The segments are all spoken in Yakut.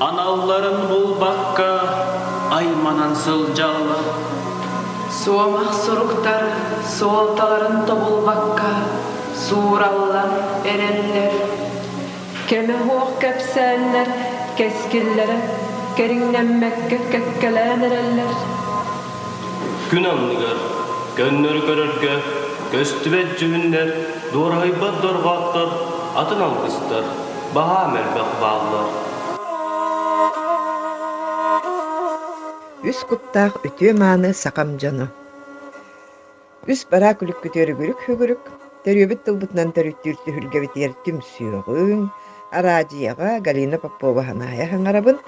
Аналларын булбакка айманан сылдьаллар. Суомах суруктар суолталарын тобулбакка суураллар, эрэллэр. Кэмэ суох кэпсээннэр кэскиллэрэ кэриҥнэммэккэ кэккэлээн эрэллэр. Күн анныгар көннөрү көрөргө көстүбэт дьүһүннэр дуораһыйбат дорҕооттор атын алгыстар Баһаа мөлбөх бааллар Үс куттаах үтүө-мааны сахам дьоно Үс бараа күлүккүтү өрүгүрүк-хүгүрүк Төрүөбүт тылбытынан төрүттүүр түһүлгэбитигэр түмсүөҕүҥ араадьыйаҕа Галина Попова Ханаайа Хаҥарабын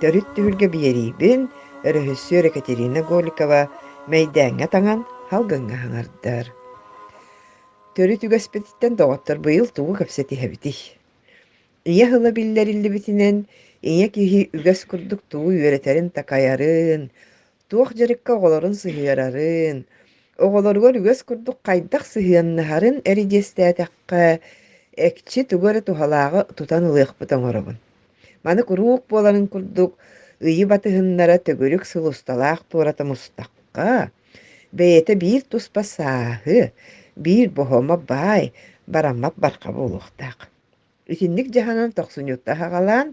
Төрүт түһүлгэ биэриибин өрөһүссүөр Екатерина Голикова Мэйдээҥҥэ таҥан халгыҥҥа хаҥардар Төрүт үгэспититтэн доҕоттор быйыл тугу кэпсэтиһэбитий? Ийэ тыла биллэриллибитинэн, ийэ киһи үгэс курдук тугу үөрэтэрин-такайарын, туох дьарыкка оҕолорун сыһыарарын, оҕолоругар үгэс курдук хайдах сыһыаннаһарын эридиэстээтэххэ, экчи тугу эрэ туһалааҕы тутан ылыахпыт оҥоробун. Маны куруук буоларын курдук, ыйы батыһыннара төгүрүк сыл усталаах туората мустахха, Бэйэтэ биир туспа сааһы, биир боһуома баай, бараммат барҕа буолуохтаах. Итинник дьаһанан тохсунньутта аһаҕалаан,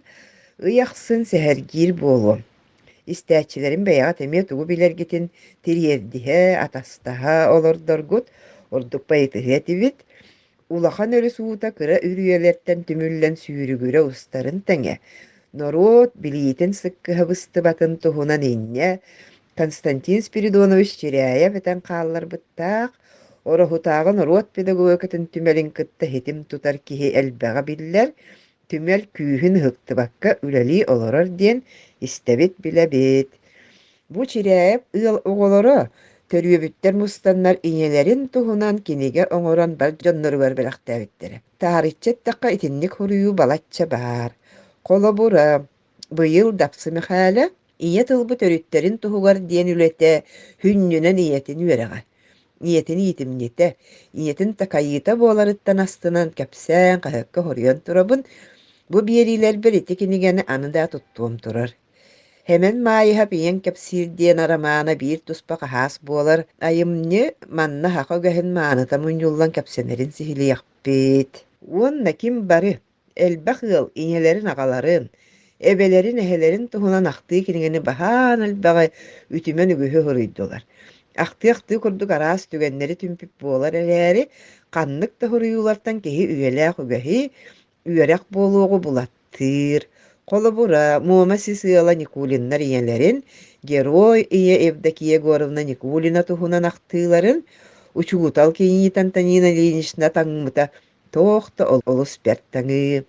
ый ахсын сэһэргиир буолуо. Истээччилэрин бэйэҕит эмиэ тугу билэргитин тириэрдиһэ, атастаһа олордоргут ордук байытыһыа этибит. Улахан өрүс уута кыра үрүйэлэртэн түмүллэн сүүрүгүрэ устарын тэҥэ, норуот билиитин сыккыһабыстыбатын туһунан инньэ Константин Спиридонович Чиряев этэн хаалларбыттаах, Ороһутааҕы норуот педагогикатын түмэлин кытта ситим тутар киһи элбэҕи биллэр, түмэл күүһүн ыһыктыбакка үлэлии олорор диэн истэбит билэбит бу Чирээп ыал оҕолоро төрүөбүттэр мустаннар ийэлэрин туһунан кинигэ оҥорон бар дьонноругар бэлэхтээбиттэрэ таарыччы эттэххэ итинник хоруйу балачча баар холобура Быйыл Дапсы Мэхээлэ ийэ тылбыт өрүттэрин туһугар диэн үлэтэ хүнньүнэн ийэтин үөрэҕэ, ийэтин иитимньитэ, ийэтин такайыыта буоларыттан астынан кэпсээн хаһыакка хоруйан турабын. Бу биэриилэрбэр ити кинигэни аны да туттуом турар. Хэмэн Маайыһап ийэҥ кэпсиир диэн арамаана биир туспа хаһаас буолар. Айымньы манна һаха үгэһин мааныта мунньуллан кэпсэнэрин сиһилиэхпит. Уонна ким бары элбэх ыал ийэлэрин-аҕаларын, эбэлэрин, эһэлэрин туһунан ахтыы кинигэни баһаан элбэҕи үтүмэн үгүһү хоруйдулар. Ахтыы-ахтыы курдук араас түгэннэри түмпүт буолар эрээри, ханнык да хоруйуулартан киһи үйэлээх үгэһи, үөрэх буолуоҕу булаттыыр. Холобура, Муома сис ыала Никулиннар ийэлэрин, герой ийэ Евдокия Егоровна Никулина туһунан ахтыыларын, учуутал кийиит Антонина Ильинична таҥмыта Туох да олус бэрт таҥыы.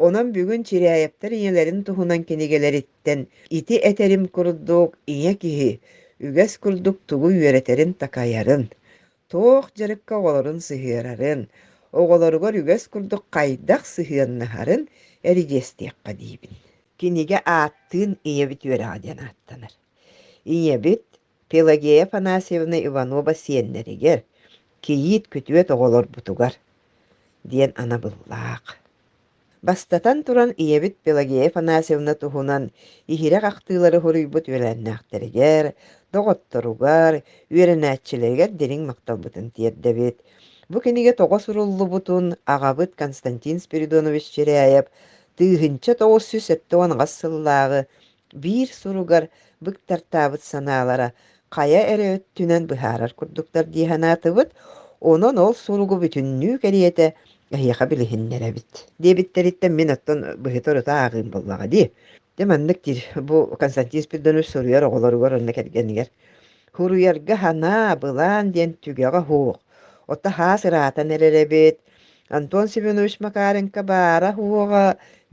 Онон бүгүн Чиряевтэр ийэлэрин туһунан кинигэлэриттэн ити этэрим курдук ийэ киһи үгэс курдук тугу үөрэтэрин-такайарын, туох дьарыкка оҕолорун сыһыарарын, оҕолоругар үгэс курдук хайдах сыһыаннаһарын эридьиэстиэххэ диибин. Кинигэ ааттыын ийэбит үөрэҕэ диэн ааттанар. Ийэбит Пелагея Афанасьевна Иванова сиэннэригэр, кийиит күтүөт оҕолорбутугар диэн анабыллаах. Бастатан туран, ийэбит Пелагея Афанасьевна туһунан иһирэх ахтыылары хоруйбут үөлээннээхтэригэр, доҕотторугар, үөрэнээччилэригэр дириҥ махталбытын тиэрдэбит. Бу кинигэ тоҕо суруллубутун аҕабыт Константин Спиридонович Чиряев тыыһынча тоҕус сүүс сэттэ уон аҕыс сыллааҕы биир суругар быктартаабыт санаалара хайа эрэ өттүнэн быһаарар курдуктар дии санаатыбыт, онон ол суругу бүтүннүү кэриэтэ эһиэхэ билиһиннэрэбит диэбиттэриттэн мин оттон быһыта ырыта ааҕыым буоллаҕа дии. Дьэ маннык диир бу Константин Спирдонович суруйар оҕолоругар уонна кэргэнигэр. Хуруйарга санаа, былаан диэн түгэҕэ суох. Отто хаас ыраатан эрэрэбит, Антон Семенович Макаренко баара уоҕа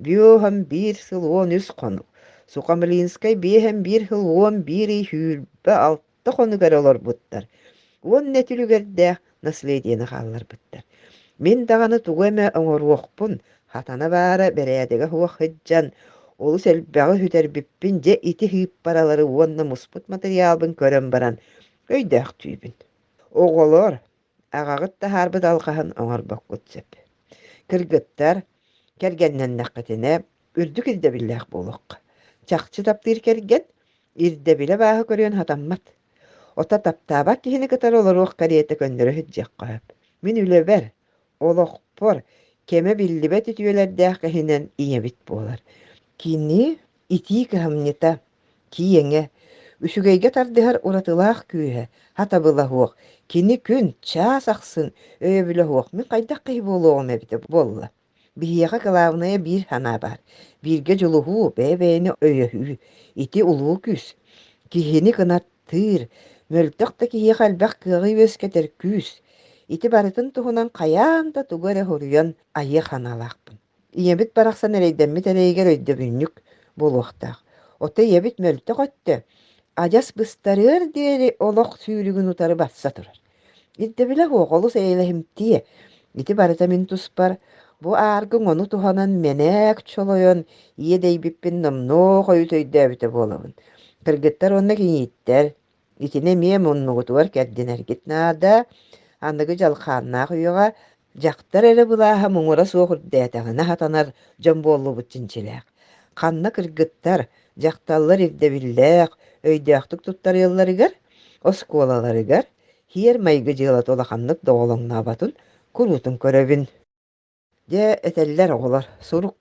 биэһэн биир сыл уон үс хонук, Сухомлинскай биэһэн биир сыл уон биир ый сүүрбэ алта хонук эрэ олорбуттар уонна түлүгэрдээх наследиены хаалларбыттар. Мин даҕаны тугу эмэ оҥоруохпун, хатана баара бэрээдэгэ суох сылдьан, олус элбэҕи сүтэрбиппин дьэ ити сыыппаралары уонна муспут матырыйаалбын көрөн баран өйдөөхтүүбүн. Оҕолор Аҕаҕыт таһаарбыт алҕаһын оҥорбоккут сөп. Кыргыттар, кэргэннэннэххитинэ, үрдүк ирдэбиллээх буолуохха. Чахчы таптыыр кэргэн ирдэбилэ бааһы көрүөн хатаммат. Ото таптаабат киһини кытары олоруох кэриэтэ көннөрө сыдьыахха сөп. Мин үлэбэр, олохпор кэмэ биллибэт үтүөлэрдээх кэһинэн ийэбит буолар. Кини итии кыһамньыта, Киэҥэ, үчүгэйгэ тардыһар уратылаах күүһэ, хатабыла суох, кини күн, чаас ахсын өйөбүлэ суох, мин хайдах киһи буолуоҕум эбитэ буолла? Биһиэхэ кылаабынайа биир санаа баар. Бииргэ дьулуһуу, бэйэ-бэйэни өйөһүү. Ити улуу күүс. Киһини кынаттыыр, мөлтөх да киһиэхэ элбэх кыаҕы үөскэтэр күүс. Ити барытын туһунан хайаан да тугу эрэ суруйан айыа санаалаахпын. Ийэбит барахсан эрэйдэммит эрэйигэр өйдөбүнньүк буолуохтаах. Оттон ийэбит мөлтөх өттө адьас быстарыар диэри олох сүүрүгүн утары батса турар. Ирдэбилэ суох олус эйэлэһимтиэ. Ити барыта мин туспар. Бу ааргыҥ ону туһанан мэнээк чолойон ийэ дэйбиппин номнуо хойут өйдөөбүтэ буолабын. Кыргыттар уонна киниттэр Итини эмиэ муннугутугар кэрдинэргит наада. Аныгы дьалхааннаах үйэҕэ дьахтар эрэ былааһа муҥура суох үрдээтэҕинэ сатанар дьон буоллубут чинчилээх. Ханна кыргыттар, дьахталлар ирдэбиллээх, өйдөөхтүк туттарыалларыгар, оскуолаларыгар, сиэр-майгы дьыалата улаханнык доҕолоҥнооботун, куруутун көрөбүн. Дьэ, этэллэр оҕолор, «Сурук,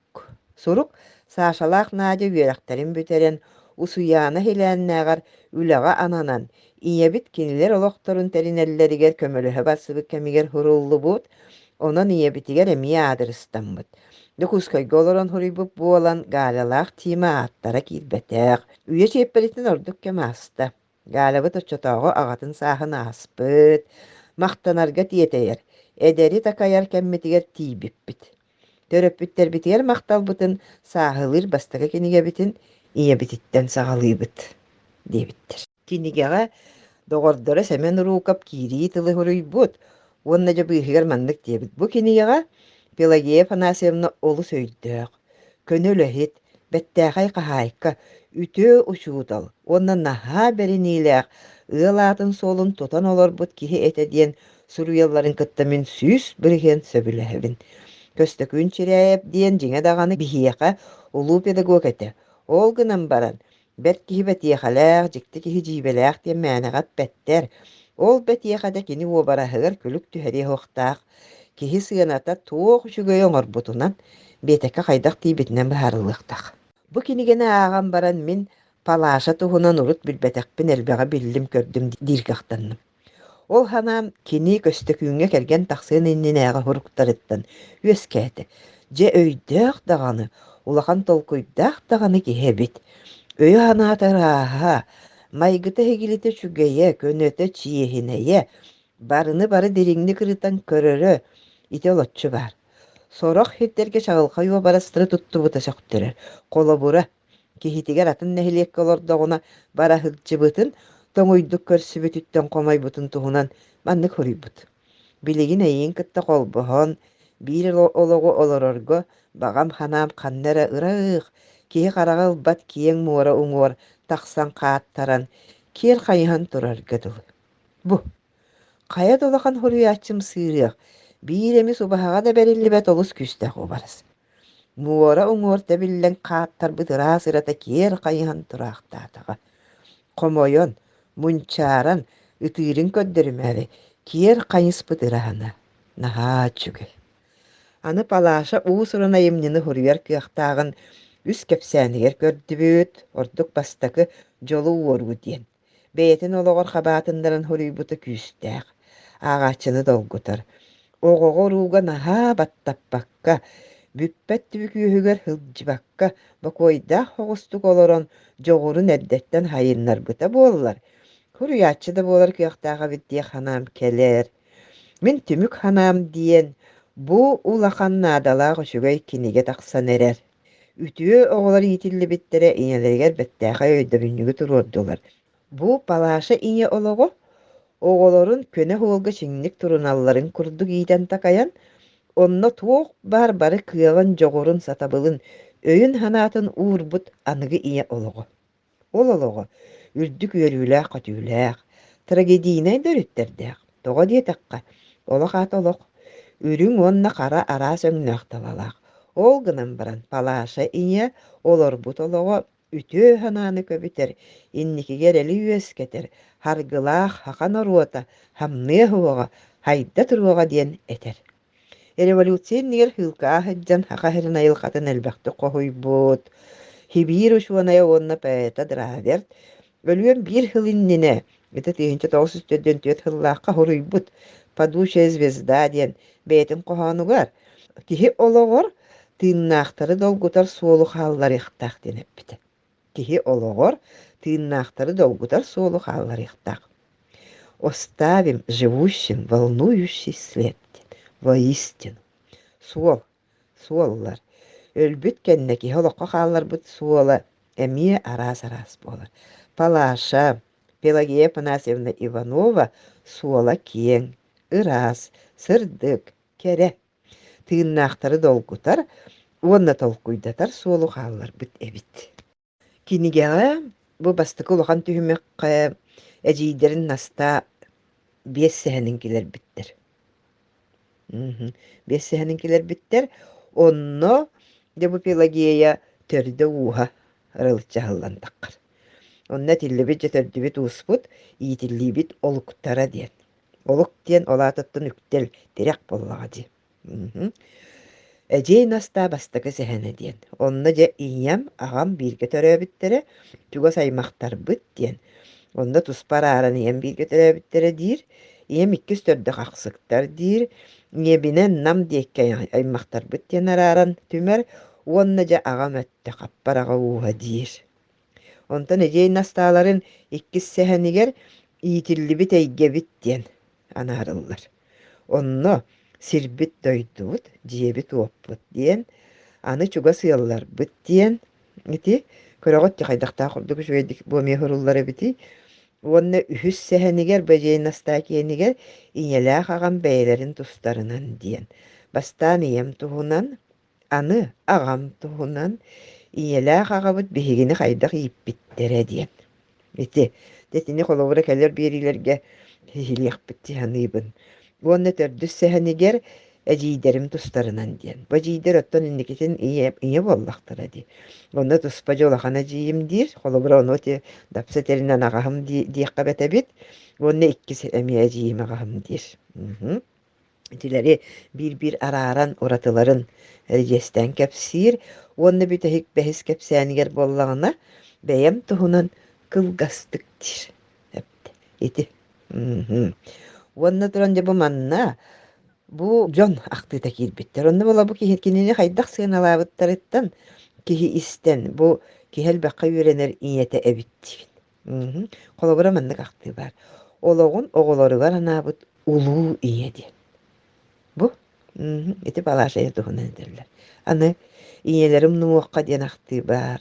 сурук!» Сашалаах Надя үөрэхтэрин бүтэрэн, Усуйаана иһилээннээҕэр үлэҕэ ананан, ийэбит кинилэр олохторун тэринэллэригэр көмөлөһө барсыбыт кэмигэр суруллубут, онон ийэбитигэр эмиэ аадырыстаммыт. Дьокуускайга олорон суруйбут буолан, Галялаах Тима ааттара киирбэтэх, үйэ чиэппэритин ордук кэм ааста. Галябыт оччотооҕу аҕатын сааһын ааспыт, махтанарга тиэтэйэр, эдэри такайар кэммитигэр тиийбиппит. Төрөппүттэрбитигэр махталбытын сааһылыыр бастакы кинигэбитин ийэбититтэн саҕалыыбыт диэбиттэр. Кинигэҕэ доҕордоро Сэмэн Руков киирии тылы суруйбут уонна дьэ быыһыгар маннык диэбит: «Бу кинигэҕэ Пелагея Афанасьевна олус өйдөөх, Көнө үлэһит, бэттээхэй хаһаайка, үтүө учуутал уонна наһаа бэриниилээх, ыал аатын-суолун тутан олорбут киһи этэ диэн суруйалларын кытта мин сүүс бырыһыан сөбүлэһэбин. Көстөкүүн Чирээйэп диэн дьиҥэ даҕаны биһиэхэ улуу педагог этэ. Ол гынан баран, Бэрт киһи бэтиэхэлээх, дьикти киһи дьиибэлээх диэн мээнэҕэ эппэттэр. Ол бэтиэхэ да кини уобараһыгар күлүк түһэриэ суохтаах. Киһи сыаната туох үчүгэйи оҥорбутунан, биэтэкэ хайдах диэбитинэн быһаарыллыахтаах. Бу кинигэни ааҕан баран мин Палаша туһунан урут билбэтэхпин элбэҕи биллим-көрдүм диир кыахтанным. Ол санаам кини Көстөкүүҥҥэ кэргэн тахсыан иннинээҕи суруктарыттан үөскээтэ. Дьэ өйдөөх даҕаны, улахан толкуйдаах даҕаны киһи эбит. Өйө-санаата ырааһа, майгыта-иһигилитэ үчүгэйэ, көнөтө чиэһинэйэ, барыны-бары дириҥник ырытан көрөрө ити олоччу баар. Сорох сирдэргэ чаҕылхай уобарастары туттубута сөхтөрөр. Холобура, Киһитигэр атын нэһилиэккэ олордоҕуна бара сылдьыбытын, тоҥуйдук көрсүбүтүттэн хомойбутун туһунан маннык хоруйбут. Билигин эйиин кытта холбоһон, биир олоҕу олорорго баҕам-ханаам ханна эрэ ыраах, киһи хараҕа ылбат киэҥ муора уҥуор тахсан хааттаран, киэр хайыһан турарга дылы. Бу Хайа да улахан хоруйааччым сыырыах, биир эми субаһаҕа да бэриллибэт олус күүстээх уобарас. Муора уҥуорта эбиллэн хааттарбыт ыраас ырата киэр хайыһан тураахтаатаҕа. Хомойон, мунчааран, ытыырын көрдөрүмээри киэр хайыспыт ыраһана. Наһаа үчүгэй. Аны Палаша уус-уран айымньыны хоруйар кыахтааҕын үс кэпсээнигэр көрдүбүт, ордук бастакы «Дьолу уоруу» диэн. бэйэтин олоҕор хабаатыннаран хоруйбута күүстээх, ааҕааччыны долгутар. Оҕоҕо урууга наһаа баттаппакка, бүппэт түбүк үөһүгэр сылдьыбакка, бокуойдаах оҕустук олорон дьоҕурун эрдэттэн сайыннарбыта буоллар, хоруйааччы да буолар кыахтаах эбит дии санаам кэлэр. Мин түмүк санаам диэн, бу улахан наадалаах үчүгэй кинигэ тахсан эрэр. Үтүө оҕолор иитиллибиттэрэ ийэлэригэр бэртээхэй өйдөбүнньүгү туруордулар. Бу Палаша ийэ олоҕо оҕолорун көнө оһуолга чиҥник туруналларын курдук иитэн-такайан, онно туох баар бары кыаҕын, дьоҕурун, сатабылын, өйүн-санаатын уурбут аныгы ийэ олоҕо. Ол олоҕо үрдүк үөрүүлээх-көтүүлээх, трагедийнай төрүттэрдээх. Тоҕо диэтэххэ, олох аата олох, үрүҥ уонна хара араас өҥнөөх талалаах. Ол гынан баран Палаша ийэ олорбут олоҕо үтүө санааны көбүтэр, инникигэ эрэли үөскэтэр, харгылаах саха норуота хамныа уһуга, хайда туруоҕа диэн этэр. Революция иннигэр һыылкаҕа сылдьан Саха сирин айылҕатын элбэхтик хоһуйбут Хибир учуонайа уонна поэта Драверт өлүөн биир сыл иннинэ ити тыһыынча тоҕус сүүс төрдүөн түөрт сыллаахха хоруйбут «Падучая звезда» диэн бэйэтин хоһоонугар киһи олоҕор тыыннаахтары долгутар суолу хаалларыахтаах диэн эппитэ. киһи олоҕор тыыннаахтары долгутар суолу хаалларыахтаах. Оставим живущим волнующий след воистину. Суол, суоллар. Өлбүт кэннэ киһи олоххо хаалларбыт суола эмиэ араас-араас буолар. Палаша, Пелагея Панасьевна Иванова суола киэҥ, ыраас, сырдык, кэрэ. тыыннаахтары долгутар уонна толкуйдатар суолу хаалларбыт эбит. Кинигэҕэ бу бастакы улахан түһүмэххэ эдьиийдэрин Наста биэс сэһэнин килэрбиттэр. Биэс сэһэнин килэрбиттэр. Онно Дебупелагея төрдө ууһа арылыччаһыллан таххар. Онно этиллибит дьэ төрдүбүт ууспут иитиллиибит олуктара диэн Олук диэн ол аатыттан үктэл, тирэх буоллаҕа дии. Мгм. Эдьиэй Настаа бастакы сэһэнэ диэн. Онно дьэ ийэм, аҕам бииргэ төрөөбүттэрэ чугас аймахтарбыт диэн. Онно туспа арааран ийэм бииргэ төрөөбүттэрэ диир. Ийэм иккис төрдөх ахсыктар диир. Ийэбинэн Нам диэки ай- аймахтарбыт диэн арааран түмэр. Уонна дьэ аҕам өттө хаппар аҕа ууһа диир. Онтон эдьиэй Настааларын иккис сэһэнигэр иитиллибит эйгэбит диэн анаарыллар. Онно сирбит дойдубут, дьиэбит-уоппут диэн, аны чугас ыалларбыт диэн ити көрөҕүт ти хайдахтаах ордук үчүгэйдик бу эмиэ суруллар эбитий уонна үһүс сэһэнигэр Бэдьиэй Настаа киэнигэр ийэлээх аҕам бэйэлэрин тустарынан диэн бастаан ийэм туһунан Аны аҕам туһунан ийэлээх аҕабыт биһигини хайдах ииппиттэрэ диэн. Ити, итини холобура кэлэр биэриилэргэ иһилиэхпит дии саныыбын. Уонна төрдүс сэһэнигэр эдьиийдэрим тустарынан диэн. Бу эдьиийдэр оттон инникитин ийэ, ийэ буоллахтара дии. Онно туспа дьэ улахан эдьиийим диир. Холобура ону ити дапса тэринэн аҕаһым дии диэххэ эбит уонна иккис эмиэ эдьиийим аҕаһым диир. Итилэри биир-биир арааран уратыларын дьиэстээн кэпсиир уонна бүтэһик бэһис кэпсээнигэр буоллаҕына, бэйэм туһунан кылгастык диир эбит ити. Мм. Уонна туран дьэ бу манна бу дьон ахтыыта киирбиттэр. Онно була бу киһи кинини хайдах сыаналаабыттарыттан киһи истэн бу киһи элбэххэ үөрэнэр ийэтэ эбит диибин. Мм, холобура маннык ахтыы баар: олоҕун оҕолоругар анаабыт улуу ийэ диэн. Бу мм, ити балааш ийэ туһунан этэллэр. Аны ийэлэрим унумуохха диэн ахтыы баар.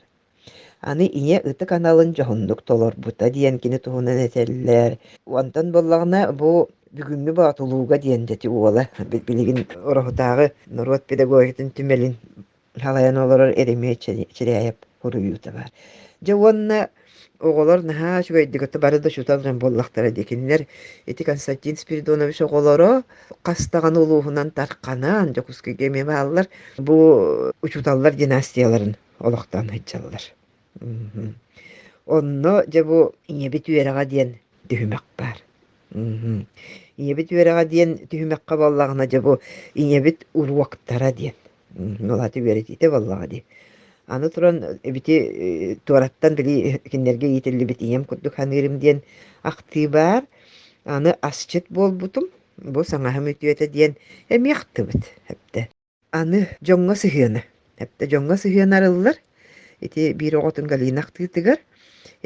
Аны ийэ ытык аналын дьоһуннук толорбута диэн кини туһунан этэллэр. Онтон буоллаҕына бу бүгүҥҥү боотулууга диэн дьэ ити уола билигин Ороһутааҕы норуот педагогикатын түмэлин Халайан олорор эримиэт Чиряев суруйуута баар. Дьэ уонна оҕолор наһаа үчүгэйдик ото бары да учуутал дьон буоллахтара дии. Кинилэр ити Константин Спиридонович оҕолоро Хастаҕаны улууһунан тарханан Дьокуускайга эмиэ бааллар. Бу учууталлар династияларын олохтоон сылдьаллар. Онно, дьэ, бу ийэбит үөрэҕэ диэн түһүмэх баар. Мгм. Ийэбит үөрэҕэ диэн түһүмэххэ буоллаҕына, дьэ, бу ийэбит уруоктара диэн. Мгм. Улаата үөрэтиитэ буоллаҕа дии. Аны туран, эбити э, туораттан били кинилэргэ иитиллибит ийэм курдук саныырым диэн ахтыы баар. Аны асчыт буолбутум. Бу саҥаһым үтүөтэ диэн эмиэ ахтыбыт эбэтэ. Аны дьоҥҥо сыһыана. Эптэ дьоҥҥо сыһыана арыллар. Ити биир оҕотун Галина ахтыытыгар,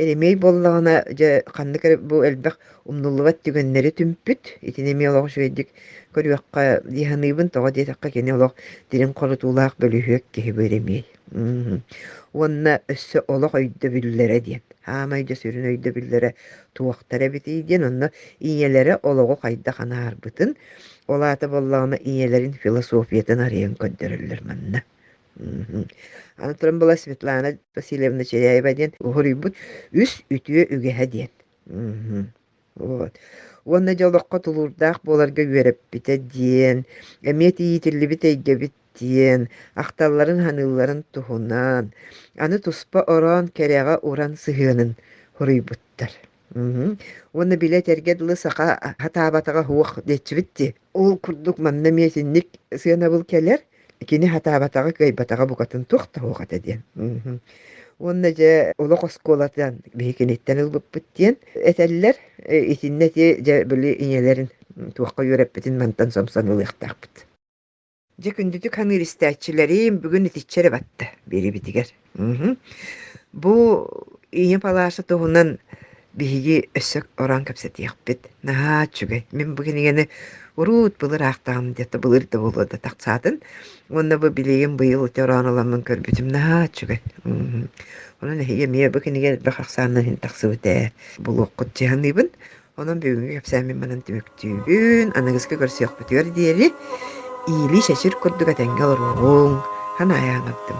Еремей буоллаҕына, дьэ, ханнык эрэ бу элбэх умнуллубат түгэннэри түмпүт. Итини эмиэ олох үчүгэйдик көрүөххэ дии саныыбын. Тоҕо диэтэххэ, кини олох дириҥ хорутуулаах, бөлүһүөк киһи бу Еремей. Мм. Уонна өссө олох өйдөбүллэрэ диэн. Саамай дьэ сүрүн өйдөбүллэрэ туохтара эбитий диэн, онно ийэлэрэ олоҕу хайдах анаарбытын, Ол аата буоллаҕына ийэлэрин философиятын арыйан көрдөрөллөр манна. Мгм. Аны туран была Светлана Васильевна Чиряева диэн уһуруйбут «Үс үтүө үгэһэ» диэн. Мгм. Вот. Уонна дьэ олоххо тулуурдаах буоларга үөрэппитэ диэн, эмиэ тиийитиллибит эйгэбит диэн ахталларын саныылларын туһунан аны туспа ороон кэрэҕэ уран сыһыанын хоруйбуттар. Мгм. Уонна били этэргэ дылы саха сатаабатаҕа суох диэччибит дии. Ол курдук манна эмиэ итинник сыанабыл кэлэр, кини сатаабатаҕа кыайбатаҕа букатын туох да суох этэ диэн. Мгм. Уонна дьэ олох оскуолатын биһи киниттэн ылбыппыт диэн этэллэр. Э, итиннэ ити дьэ били ийэлэрин м, туохха үөрэппитин мантан сомсон ылыахтаахпыт. Дьэ күндүтүк ханыыр истээччилэрим бүгүн итиччэ эрэ батта биэрибитигэр. Мгм. Бу Ийэ Палааша туһунан биһиги өссө ороон кэпсэтиэхпит. Наһаа үчүгэй. Мин бу кинигэни урут былыр аахтаҕым дьэ былыр да буолуо да тахсаатын. Уонна бу билигин быйыл ити ороон ыламмын көрбүтүм. Наһаа үчүгэй. Мгм. Онон эһиги эмиэ бу кинигэ элбэх ахсаанынан иһин тахсыбыт ээ. Булуоххут дьаһаныыбын. Онон бүгүҥҥү кэпсээммин манан түмүктүүбүн. Аныгыскы көрсүөхпүтүгэр диэри иилии-шэчир курдук этэҥҥэ олоруоҕуҥ. Ханаайа аҥардым.